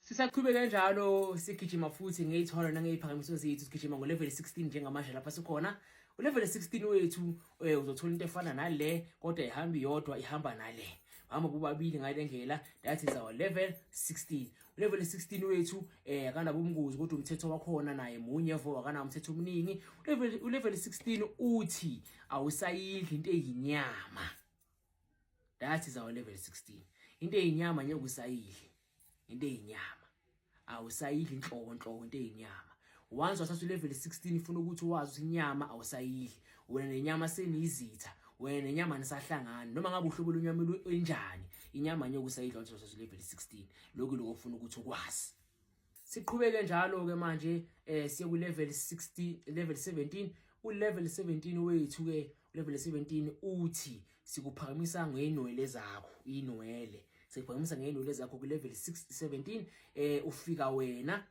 Sisaqhubeka njalo sigijima futhi ngeyithwalo nangeyiphakamiso zethu sigijima ngo level 16 njengamanje lapha sikhona. U level 16 wethu eh, uzothola into efana nale kodwa ihamba iyodwa ihamba nale. Hamba bobabili ngale ndlela that is our level 16. U level 16 wethu eh akana bomngozi kodwa umthetho wakhona naye munye vo akana umthetho omningi. U level u level 16 uthi awusayidli into eyinyama. That is our level 16. Into eyinyama nyokusayidli. into eyinyama awusayidli inhloko inhloko into eyinyama once wathatha ulevel 16 ifuna ukuthi wazi ukuthi inyama awusayidli wena nenyama seniyizitha wena nenyama nisahlangani noma ngabe uhlobo lwenyama enjani inyama nyoka usayidla wathi wathatha ulevel 16 lokhu lokho ufuna ukuthi ukwazi siqhubeke njalo ke manje eh siye ku level 16 level 17 u level 17 wethu ke Levele 17 uthi sikuphakamisa ngeenwele zakho inwele sikuphakamisa ngeenwele zakho ku level 617 eh ufika wena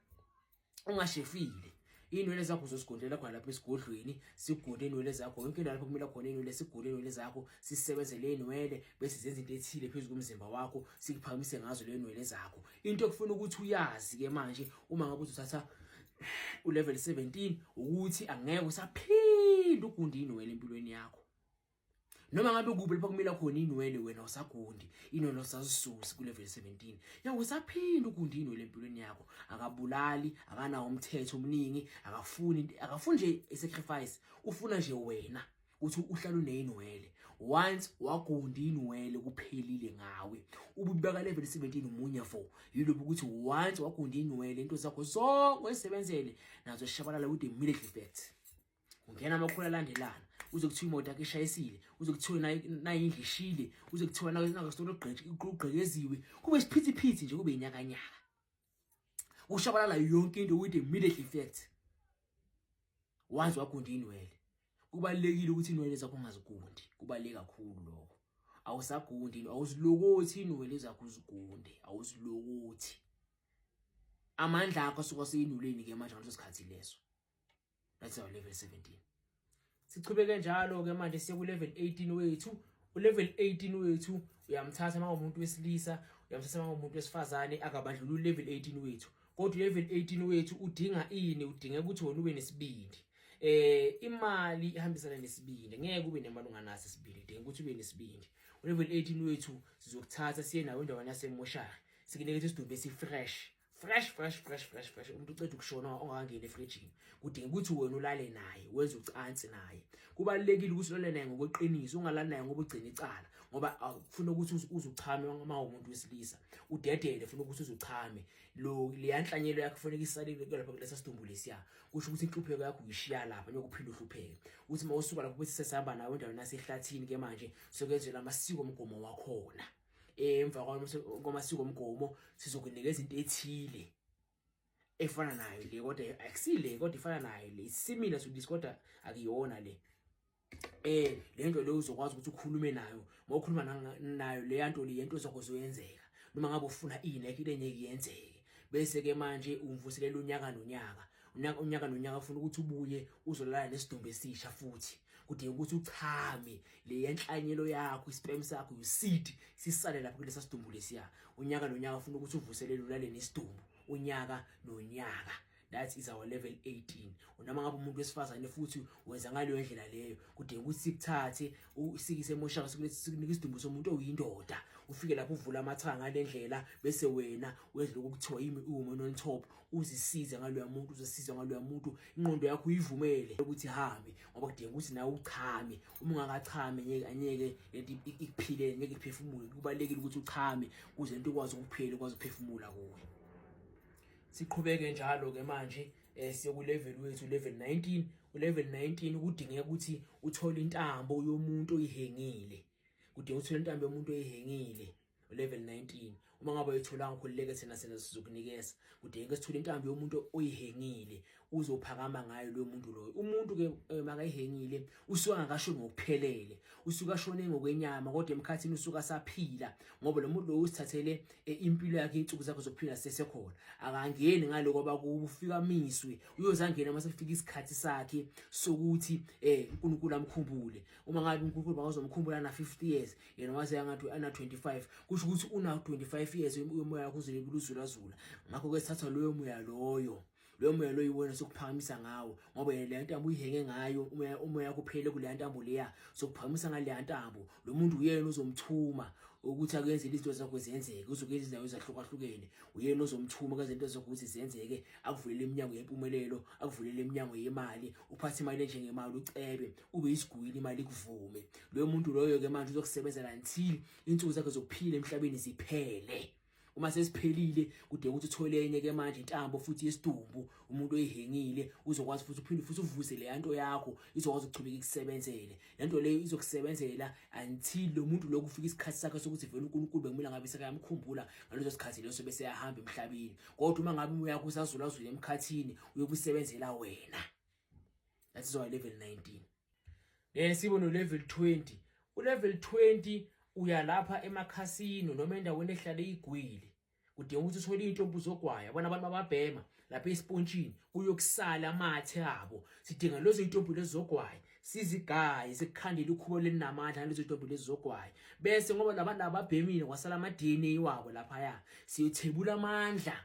ungashefile inwele zakho uzozigondela khona lapha esigodlweni sigunde inwele zakho yonke indawo lapho kumele khona inwele sigunde inwele zakho sisebenzele inwele bese zenza into ethile phezulu komzimba wakho sikuphamise ngazo le nwele zakho into ekufuna ukuthi uyazi ke manje uma ngabe uzothatha ulevel 17 ukuthi angeke usaphinda ugundi inwele empilweni yakho noma ngabe kuphi lapho kumila khona inwele wena usagundi inwele osazisusi kulevel 17 yawo usaphinda ugundi inwele empilweni yakho akabulali akanawo umthetho omningi akafuni akafuni nje isacrifice ufuna nje wena ukuthi uhlala uneyinwele once wagunda inwele kuphelile ngawe ububeka level 17 umunye fo yilobu ukuthi once wagunda inwele into zakho zonke oyisebenzele nazo shabalala with the military effect ungena amakhulu alandelana uze kuthiwa imoto yakhe ishayisile uze kuthiwa nayo indlu ishile uze kuthiwa nayo nakasitolo ugqekeziwe kube isiphithiphithi nje kube inyakanyaka kushabalala yonke into with immediate effect wazi wagundi inwele kubalekile ukuthi inwele zakho ungazigundi kubaleke kakhulu lokho awusagundi awuzilokothi inwele zakho uzigunde awuzilokothi amandla akho asuka seyinuleni ke manje ngaleso sikhathi leso that's our level 17 sichubeke njalo ke manje siye ku level 18 wethu u level 18 wethu uyamthatha manje umuntu wesilisa uyamthatha manje umuntu wesifazane akabadlula u level 18 wethu kodwa level 18 wethu udinga ini udinga ukuthi wona ube nesibindi eh imali ihambisana nesibindi ngeke ube nemali unganaso isibindi udinga ukuthi ube nesibindi level 18 wethu sizokuthatha siye nawe endaweni yasemoshari sikunike isidumbu esifresh fresh fresh fresh fresh fresh umuntu uceda ukushona ongakangeni efrijini kudinga ukuthi wena ulale naye wenze ucansi naye kubalekile ukuthi ulale naye ngokweqiniso ungalali naye ngoba ugcina icala ngoba ufuna ukuthi uzuchame uma umuntu wesilisa udedele ufuna ukuthi uzuchame lo liyanhlanyelo yakho kufanele isalile lapha kulesa sidumbu lesiya kusho ukuthi inhlupheko yakho uyishiya lapha nyokuphila uhlupheke uthi mawusuka lapho bese sesihamba nawe endaweni nasehlathini ke manje sokwenzela amasiko omgomo wakhona emva kwamasiko omgomo sizokunika izinto ethile efana nayo le kodwa akusile kodwa ifana nayo le similar to this kodwa akuyona le eh lento leyo uzokwazi ukuthi ukhulume nayo ngokhuluma nayo le yanto le yento ozokuzoyenzeka noma ngabe ufuna i Nike lengeke yenzeke bese ke manje umvuselela unyaka nonyaka unyaka unyaka nonyaka ufuna ukuthi ubuye uzolala nesidumbu esisha futhi kudinga ukuthi uchame le yenhlanyelo yakho isperm sakho useed sisale lapho kulesa sidumbu lesiya unyaka nonyaka ufuna ukuthi uvuselele ulale nesidumbu unyaka nonyaka that is our level 18 unoma ngabe umuntu wesifazane futhi wenza ngaleyo ndlela leyo kudinga ukuthi sikuthathe usikise emoshaka sikunika isidumbu somuntu oyindoda ufike lapho uvula amathanga ngalendlela bese wena wedlula ukuthiwa yimi uwoman on top uzisize ngaloya muntu uzosiza ngaloya muntu inqondo yakho uyivumele ukuthi hambe ngoba kudinga ukuthi nawe uchame uma ungakachame ngeke anyeke lento ikuphile ngeke iphefumule kubalekile ukuthi uchame kuze into ikwazi ukuphila ukwazi ukuphefumula kuwe siqhubeke njalo ke manje eh siyoku level wethu level 19 u level 19 kudingeka ukuthi uthole intambo yomuntu oyihengile kudinga uthole intambo yomuntu oyihengile level 19 uma ngabe uyitholanga ukhululeke thina sena sizokunikeza kudingeka sithule intambo yomuntu oyihengile uzophakama ngayo lo muntu loyo umuntu ke eh, makayihengile usuka ngakasho ngokuphelele usuka shone ngokwenyama kodwa emkhathini usuka saphila ngoba lo muntu lo usithathele eh, impilo yakhe insuku zakhe zokuphila sesekhona akangeni ngaloko bakufika miswe uyozangena mase kufika isikhathi sakhe sokuthi eh uNkulunkulu amkhumbule uma ngabe uNkulunkulu bakazomkhumbula na 50 years yena waze yangathi ana 25 kusho ukuthi una 25 years umoya wakho uzobe uluzula zula ngakho ke sithatha loyo moya loyo loyo moya loyo wena sokuphakamisa ngawo ngoba yena le ntambo uyihenge ngayo umoya umoya kuphele kule ntambo leya sokuphakamisa ngale ntambo lo muntu uyena ozomthuma ukuthi akenze izinto zakho zenzeke uzokenza izindawo ezahlukahlukene uyena ozomthuma kaze into zakho ukuthi zenzeke akuvulele iminyango yempumelelo akuvulele iminyango yemali uphathe imali enjengemali ucebe ube isigwili imali ikuvume loyo muntu loyo ke manje uzokusebenzela until insuku zakhe zokuphila emhlabeni ziphele uma sesiphelile kude ukuthi uthole enye ke manje intambo futhi yesidumbu umuntu oyihengile uzokwazi futhi uphinde futhi uvuse le yanto yakho izokwazi ukuchubeka ikusebenzele lento leyo izokusebenzela until lo muntu lokhu ufika isikhathi sakhe sokuthi vele uNkulunkulu bekumele ngabe sekayamkhumbula ngaleso sikhathi leso bese yahamba emhlabeni kodwa uma ngabe uyakusazula azule emkhathini uyokusebenzela wena that is our level 19 then sibe no level 20 u level 20 uya lapha emakhasino noma endaweni ehlale igwili udinga ukuthi uthole into obuzogwaya abona abantu bababhema lapha esipontshini kuyokusala amathe abo sidinga lezo intombi lezogwaya sizigaye sikukhandele ukhubo lelinamandla lezo intombi lezogwaya bese ngoba labantu ababhemile kwasala ama DNA wabo lapha ya siyothebula amandla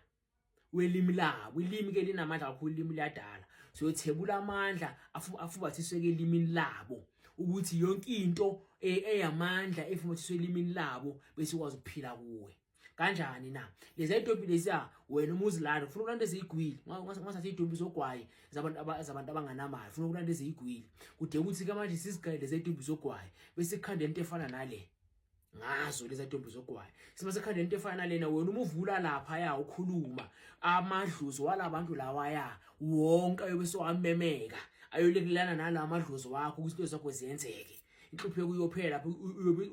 welimi labo ilimi ke linamandla kakhulu ilimi liyadala so yothebula amandla afubathiswe ke elimini labo ukuthi yonke into e, eyamandla efubathiswe elimini labo bese ukwazi ukuphila kuwe kanjani na lezi idobi lesiya wena uma uzilanda ufuna ukulanda eziyigwili ungathatha idobi zogwayi zabantu zabantu abanganamali ufuna ukulanda eziyigwili kude ukuthi ke manje sizigayele lezi idobi zogwayi bese ikhanda into efana nale ngazo leza ntombi zogwayo sima sekhanda into efana nalena wena uma uvula lapha ya ukhuluma amadlozi walabantu lawa ya wonke ayobe sowamemeka ayolekelana nala madlozi wakho ukuthi into zakho ziyenzeke inhlupheko uyophela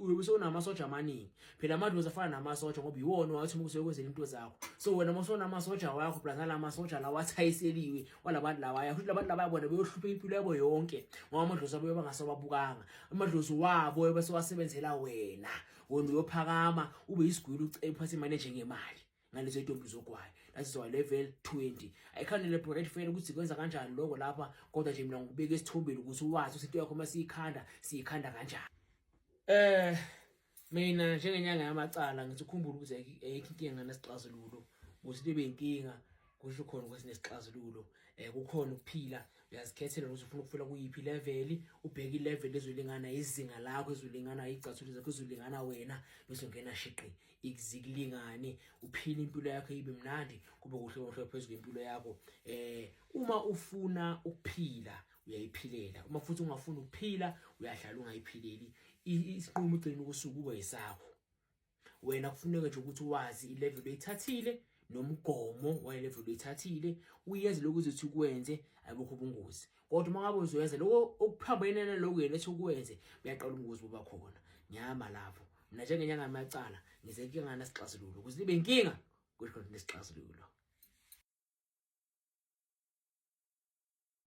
uyobe sewunamasoja amaningi phela amadlozi afana namasoja ngoba yiwona wathi uma usekwenzela into zakho so wena uma sonamasoja wakho plus nala masoja lawa athayiseliwe walabantu lawaya futhi labantu labaya bona beyohlupha impilo yabo yonke ngoba amadlozi abo bebangase babukanga amadlozi wabo ebese wasebenzela wena wena uyophakama ube isigwili uphathe imali njengemali ngalezo intombi zogwayo that is why level 20 i can't elaborate for ukuthi kwenza kanjani lokho lapha kodwa nje mina ngikubeka esithombeni ukuthi wazi ukuthi into yakho masiyikhanda siyikhanda kanjani eh mina njengenyanga yamacala ngithi ukhumbula ukuthi ayikho inkinga nesixazululo ukuthi libe inkinga kusho khona ukuthi nesixazululo eh kukhona ukuphila uyazikhethela ukuthi ufuna ukufela kuyiphi level ubheke ilevel ezolingana izinga lakho ezolingana igcathulo zakho ezolingana wena bese ungena shiqi ikuzilingane uphile impilo yakho ibe mnandi kube kuhle kuhle phezulu impilo yakho eh uma ufuna ukuphila uyayiphilela uma futhi ungafuni ukuphila uyahlala ungayiphileli isinqumo ugcina ukusuku kube yisakho wena kufuneka nje ukuthi wazi ilevel oyithathile nomgomo wayelevel oyithathile uyenze lokhu uzothi ukwenze ayibukho ubungozi kodwa uma ngabe uzoyenza lokho okuphambene naloko yena ethi ukwenze uyaqala ubungozi buba khona ngiyama lapho mina njengenyanga yamacala ngize kuyengana sixazululo ukuze libe inkinga kusho ukuthi nesixazululo